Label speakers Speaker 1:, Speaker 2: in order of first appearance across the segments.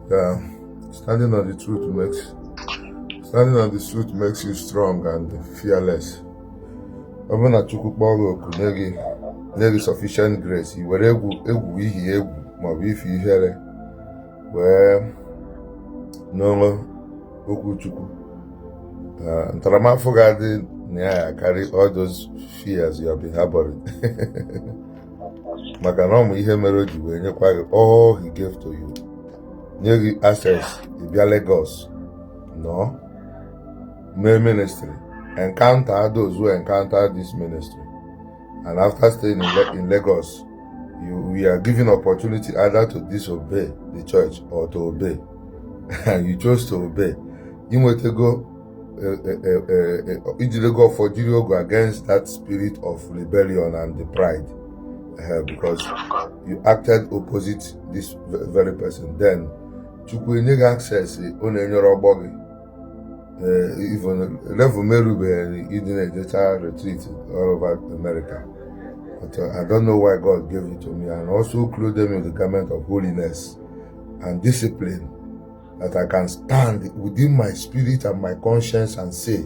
Speaker 1: Yeah, standing on the truth makes standing on the truth makes you strong and fearless. Ọ bụrụ na Chukwu kpọọ gị oku nye gị nye gị sufficient grace, i were egwu egwu ihi egwu maọbụ ifi ihere wee noo okwu Chukwu. Ah, ntaramafụfụ ga-adị na ya karị all those fears you have been harboring. maka na ọ ma ihe mere o ji wee nyekwa gị all he gave to you nye gị access ị bịa Lagos nọọ mee ministry encounter those who encounter this ministry and after staying in, Le in Lagos you were given opportunity either to disobey the church or to obey and you chose to obey inwetego ijidego ọfọ jiri ogu against that spirit of rebellion and the pride uh, because you acted opposite this very person then chukwu enye gị access ọ na-enyerọ ọgbọ gị even level m erubeghị ịdị na-ejecha retreat all over America but uh, I don't know why God gave it to me and also clothed me with the garment of holiness and discipline that I can stand within my spirit and my conscience and say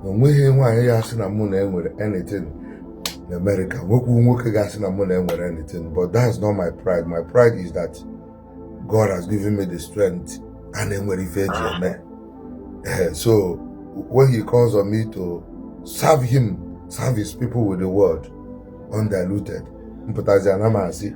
Speaker 1: na onweghị nwaanyị ya-asị na mụ na ya nwere anything na America nwekwu nwoke ga-asị na mụ na ya nwere anything but that's not my pride my pride is that God has given me the strength and enwere ife eji eme eh, so when he calls on me to serve him serve his people with the word undiluted mpụtazi ana m asị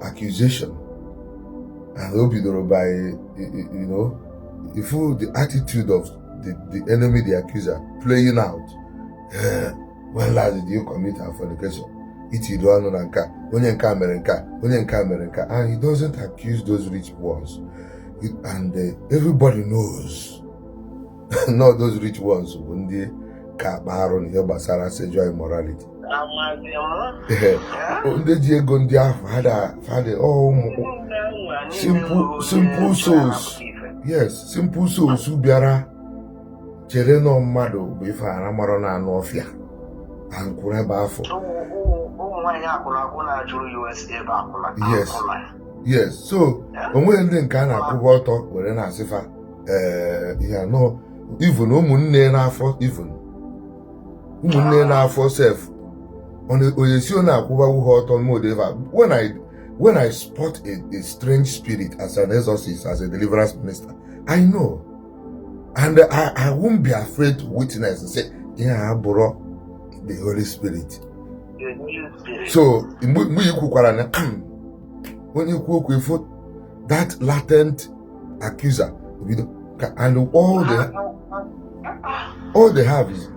Speaker 1: accusation and o bidoro by you know ị fụ the attitude of the, the enemy the accuser playing out eh, when last did you commit a fornication itido ọnụ na nka onye nka mere nka onye nka mere nka and he doesn't accuse those rich ones and uh, everybody knows na those rich ones bụ ndị ka akpa arụ na ihe gbasara sexual immorality ndị ji ego ndị afụ fada ụmụ simple souls yes simple souls bịara chere na ọ mmadụ bụ ife ara mara na anụ ọfịa na nkwụrụ ebe afụ yes yes so onweghị ndị nke a na-akwụba ọtọ were na-asị fa eh, ihe anọ even ụmụnne n'afọ even ụmụnne n'afọ sef onye sị ọ na-akwụbawu ha ọtọ however when i when i spot a, a strange spirit as an exorcist as a deliverance minister i know and i i won't be afraid to witness and say ihe a abụrọ the holy spirit so mgbe i kwukwara na onye ikwu okwu ifo that latent accuser bido ka and all the all they have is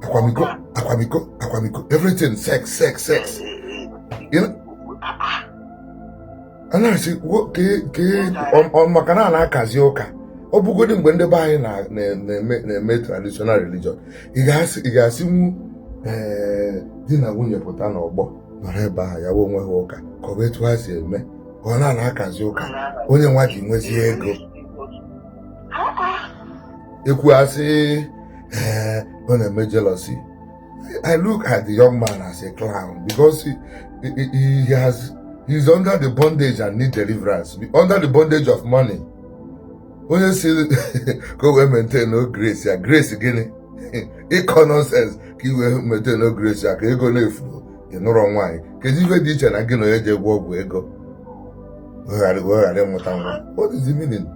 Speaker 1: akwamiko akwamiko akwamiko everything sex sex sex you know a na-asị ọ maka na a na-akazi ụka ọ bụgodị mgbe ndị be anyị na-eme traditional religion ị ga-asịnwu eh, di na nwunye pụta n'ọgbọ nọrọ ebe ahụ ya onwe ha ụka ka ọ bụ etu ha si eme ọ na na-akazi ụka onye nwa ji nwezie ego e kwuo a sị ee ọ na-eme jealousy I look at the young man as a clown because he, he, he has he's under the bondage and need deliverance under the bondage of money onye sị ka o wee maintainuo grace ya grace gịnị ị kọ nonsense ka i wee maintainuo grace ya ka ego na-efu ị nụrọ nwaanyị kedu ife dị iche na gị na onye jee gwọọ ọgwụ ego wee ghara wee ghara ịmụta nwa what is the meaning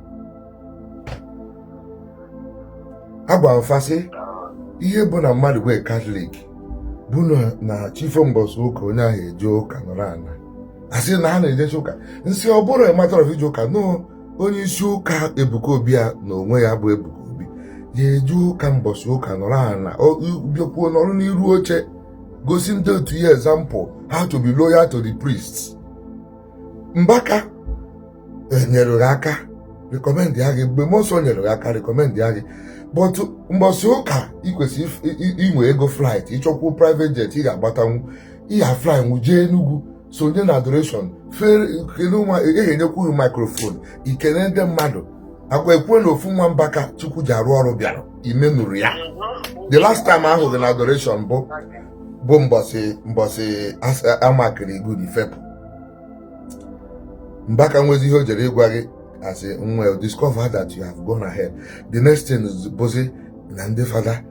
Speaker 1: agwa m fa sị ihe bụ na mmadụ bụ katọlik bụ na chi fo mbọsị ụka onye ahụ eje ụka nọrọ ana a sị na ha na-ejecha ụka m sị ọ bụrụ ịmatara ije ụka nụ onye isi ụka Ebuka Obi ya na onwe ya bụ Ebuka Obi ya jee ụka mbọsị ụka nọrọ ana bịakwuo nọrọ n'iru oche gosi ndị otu ya example how to be loyal to the priests Mbaka nyere gị aka recommendia gị Ebube Mmụọ Nsọ nyere gị aka recommendia gị but mbọsị ụka ị kwesịrị if- i- i- inwe ego flight ị chọkwuo private jet ị ga-agbatanwu ya flynwu jee Enugu sonye na adoration kedu nwa e, e ga-enyekwu gị microphone i kene ndị mmadụ akwa ekwuo na ofu nwa Mbaka Chukwu ji arụ ọrụ bịara i menurọ ya the last time a hụ gị na adoration bụ bụ mbọsị mbọsị amakiri good i fepụ Mbaka nwezi ihe o jere ịgwa gị asị nwa discover that you have gone ahead the next thing bụzi na ndị fada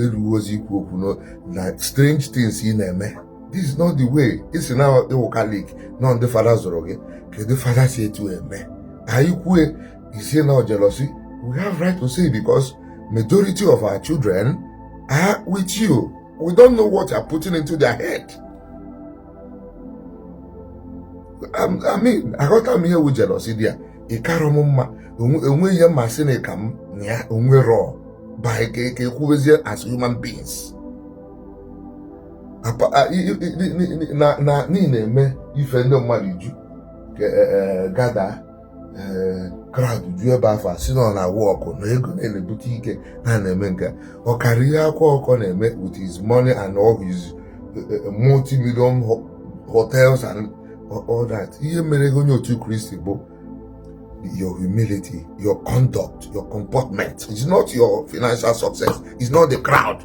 Speaker 1: erurọzi ikwu okwu na strange things ị na-eme this is not the way ị sị na ị wụ Catholic na ọ ndị fada zụrụ gị kedu fada si etu eme anyị kwue ị sị na jealousy we have right to say because majority of our children are with you we don't know what you are putting into their head um, I mean aghọta m ihe wu jealousy dị ya ị kara m mma e nwe ihe m ma sị na ị ka m na ya o nwerọ but e kwubezie as human beings na ị na-eme ife ndị mmadụ ju e, e, gather e, crowd ju ebe afụ sị na ọ na-awụ ọkụ na ego na-ebute ike na na-eme nke ọ karịa ihe Akwa Ọkụkọ na-eme with his money and all his multi-million hotels and all that ihe mere gị onye otu kristi bụ your humility your conduct your comportment it's not your financial success it's not the crowd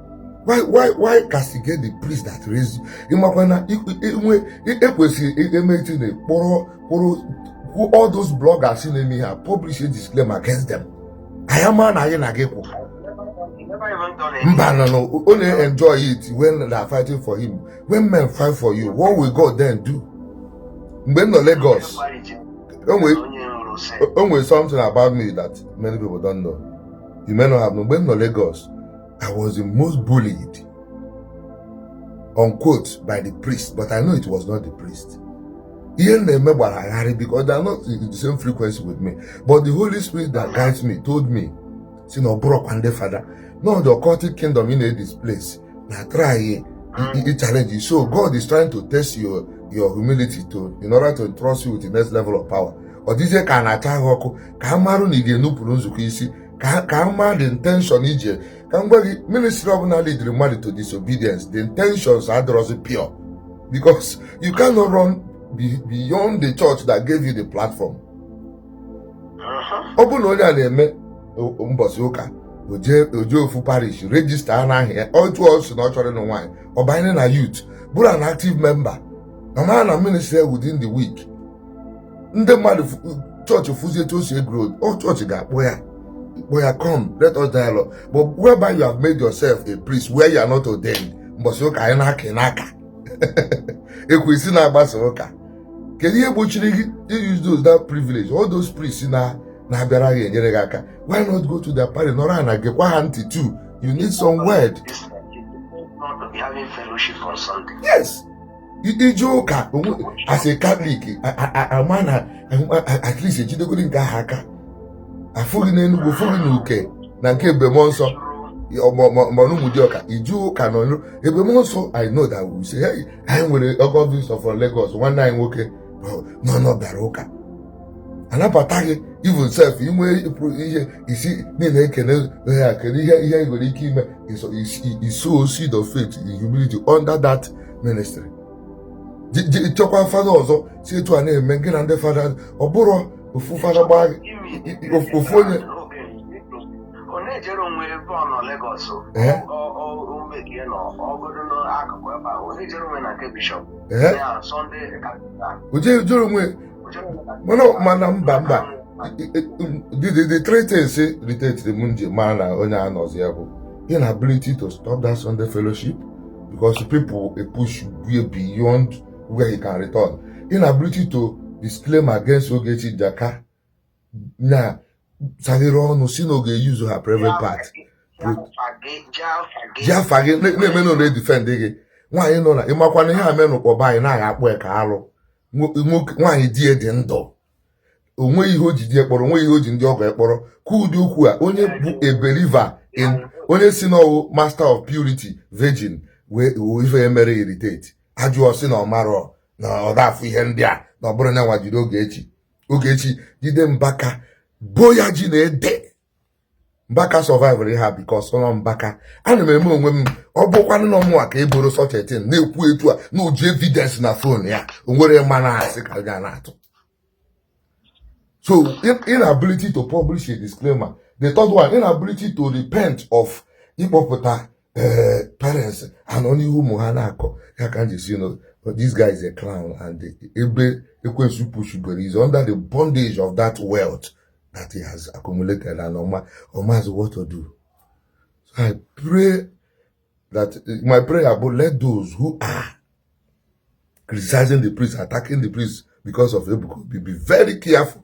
Speaker 1: why why why castigate the priest that raised you ị makwa na ihe e kwesịrị emeti na kpọrọ kpọrọ all those bloggers na-eme ihe a publish a disclaimer against them anyị ama na anyị na gị kwụ mba no no ọ na-enjoy it when they are fighting for him when men fight for you what will God then do mgbe m nọ Lagos o nwere something about me that many people don't know you may not have known mgbe m nọ Lagos I was the most bullied, unquote, by the priest, but I knew it was not the priest. ihe m na-eme gbara ha gharịị because they are not in the same frequency with me but the holy spirit that guides me told me sị na ọ bụrọkwa ndị fada na ọ the occultic kingdom in this place na try i challenge you so god is trying to test your your humility to in order to trust you with the next level of power ọ dịzie ka a na-acha gị ọkụ ka a marụ na ị ga-enupụrụ nzukọ isi ka ka a ma the intention i ji ka m gwa gị ministry ọbụna leadiri mmadụ to disobedience the intentions adịrọzi pure because you cannot run beyond the church that gave you the platform ọ bụrụ na onye a na-eme mbọsị ụka o jee ofu parish register a na-ahụ ya otu ọ sị na ọ chọrọ ịnụ nwaanyị ọ banye na youth bụrụ an active member a mara na ministry within the week ndị mmadụ chọọchị fụzie etu o si e-grow ọ chọọchị ga-akpọ ya kpọ ya come let us dialogue but whereby you have made yourself a priest where you are not ordained mbọsị ụka anyị na-aka ị na-aka e kwue ị sị na a gbasaa ụka kedu ihe gbochiri gị use those that privilege all those priests na na-abịara gị enyere gị aka why not go to their parish nọrọ ana gekwa ha ntị too you need some word yes ije ụka as a Catholic ama na at least ejidegori nke ahụ aka afụ gị n'Enugu fụ gị na Uke na nke Ebube Mụọnsọ ọ bụ n'Ụmụdịọka ije ụka na Ebube Mụọnsọ I know they will say hey anyị nwere ọgọ visitor from Lagos nwanne anyị nwoke na ọ bịara ụka anabata gị even self inwe ihe isi niile ekene ha kere ihe ihe nwere ike ime isow seed of faith in humility under that ministry chọkwa fada ọzọ si etu a na-eme gị na ndị fada ọ bụrụ ofu fada gbaa ofu onye na-ejere onwe ebe ọ nọ Lagos omebie nọ ọgodo n'akụkụ ebe a onye jere onwe na nke bishọp ya Sunday o jejere onwe mana mana mba mba the three things irritatere m m ji mara na onye a nọzi ya bụ inability to stop that Sunday fellowship because people epush way beyond where he can return inability to disclaim against Ogechi Njaka na saghere ọnụ sị na ọ ga-euse her private part ji afa gị na-eme na-edefend gị nwaanyị nọ na ị makwa na ihe a mee n'Ụkpọ be anyị na a ga-akpọ ya ka alụ nwaanyị di ya dị ndụ o nweghị ihe o ji di ya kpọrọ o nweghị ihe o ji ndị ọgọ ya kpọrọ kwuo ụdị okwu a onye bụ a believer in onye sị na ọ wụ master of purity virgin wee ife emere irritate ajụọ sị na ọ marọ na ọ da-afụ ihe ndị a na ọ bụrụ na nwa jiri Ogechi Ogechi jide Mbaka boo ya ji na ede Mbaka survivera ha because na ọ Mbaka ana m eme onwe m ọ bụkwanụ na ọ mụwa ka eboro such a thing na-ekwu etu a na o ji evidence na phone ya o nwere mma na asị ka ga na-atụ so inability to publish a disclaimer the third one inability to repent of ịkpọpụta eh, parents a nọ n'ihu ụmụ ha na-akọ ya ka m ji sị no this guy is a clown and ebe ekwensu pushugoro he's under the bondage of that wealth that he has accumulated and Oma, Oma has what to do. So I pray that my prayer, but let those who are criticizing the priest, attacking the priest because of Ebuko, be, be very careful.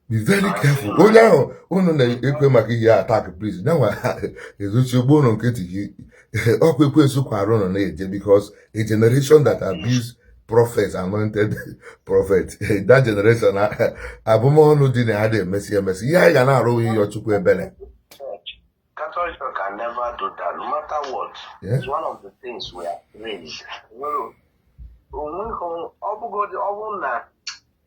Speaker 1: be very careful. Oh no, oh no, ekwe maka ihe attack priest. Now, ezuchi ugbo ụlọ nkịtị gị, ọkwa ekwe nsukwa arụ nọ na-eje because a generation that abuse prophet anointed prophet that generation abụm ọnụ dị na ya adị e mesịa e mesịa ihe anyị ga na-arịọ Chukwu ebere Catholic can never do that no matter what yeah. it's one of the things we are raised ọ bụgodị ọ bụrụ na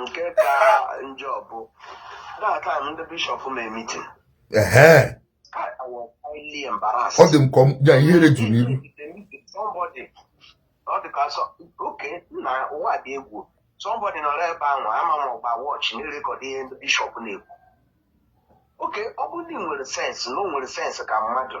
Speaker 1: nke ka njọ bụ that time ndị bishọp mee meeting ehe I was highly embarrassed. Ọ dị m ka ọ- ya ihere juru iru Somebody, ọ dị ka so, okay na ụwa dị egwu. Somebody nọrọ ebe ahụ ama m ọ gba watch na-erecord ihe ndị bishọp na-ekwu. Okay, ọ bụrụ na ị nwere sense na o nwere sense ka mmadụ,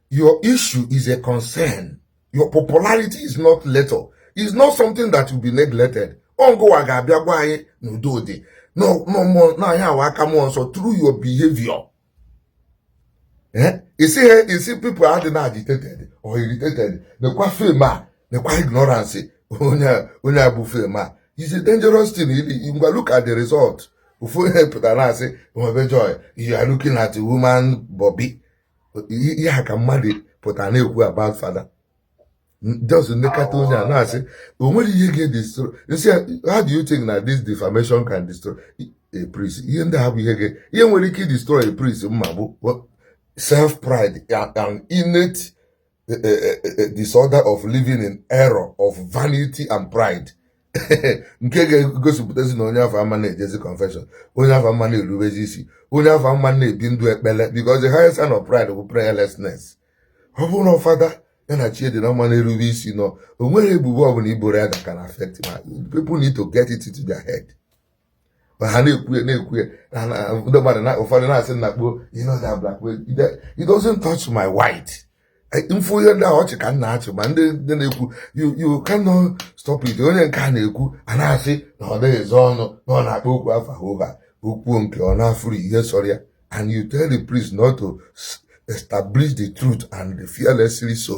Speaker 1: your issue is a concern your popularity is not little is not something that will be neglected ọngụwa ga-abịa gwa anyị n'udo dị n'anya awa aka mmụọ nsọ through your behavior eh? you see ha you see people adị na agitated or irritated nekwa fame a nekwa ignorance onye abụ fame a is a dangerous thing ngwa look at the result ofu onye pụtara na-asị nwebe joy you are looking at woman bobby ihe a ka mmadụ pụtara na-ekwu about fada just nekata onye a na-asị o nwere ihe ga-edestroy m sị how do you think na this defamation can destroy a priest ihe ndị ha bụ ihe ga ihe nwere ike destroy a priest m ma bụ self pride and innate a, a, a disorder of living in error of vanity and pride nke ga-egosipụtazi na onye afụ ama na-ejezi confession onye afụ ama na-erubezi isi onye afụ ama na-ebi ndụ ekpere because the highest sign of pride bụ prayerlessness ọ bụrụ na fada ya na chi ya dị na mma na-erube isi na o nweghị ebubo ọbụla i boro ya that can affect him people need to get it into their head ma ha na-ekwu ya na-ekwu ya ndị mmadụ na ụfọdụ na-asị na kpuo you know that black man it doesn't touch my white m fụ ihe ndị a ọchị ka m na-achị ma ndị ndị na-ekwu you cannot stop it onye nke a na-ekwu a na-asị na ọ dịghị ezo ọnụ na ọ na-akpọ okwu afa hoo haa okwu nke ọ na-afụrụ ihe sọrọ ya and you tell the priest not to establish the truth and eh fearlessly so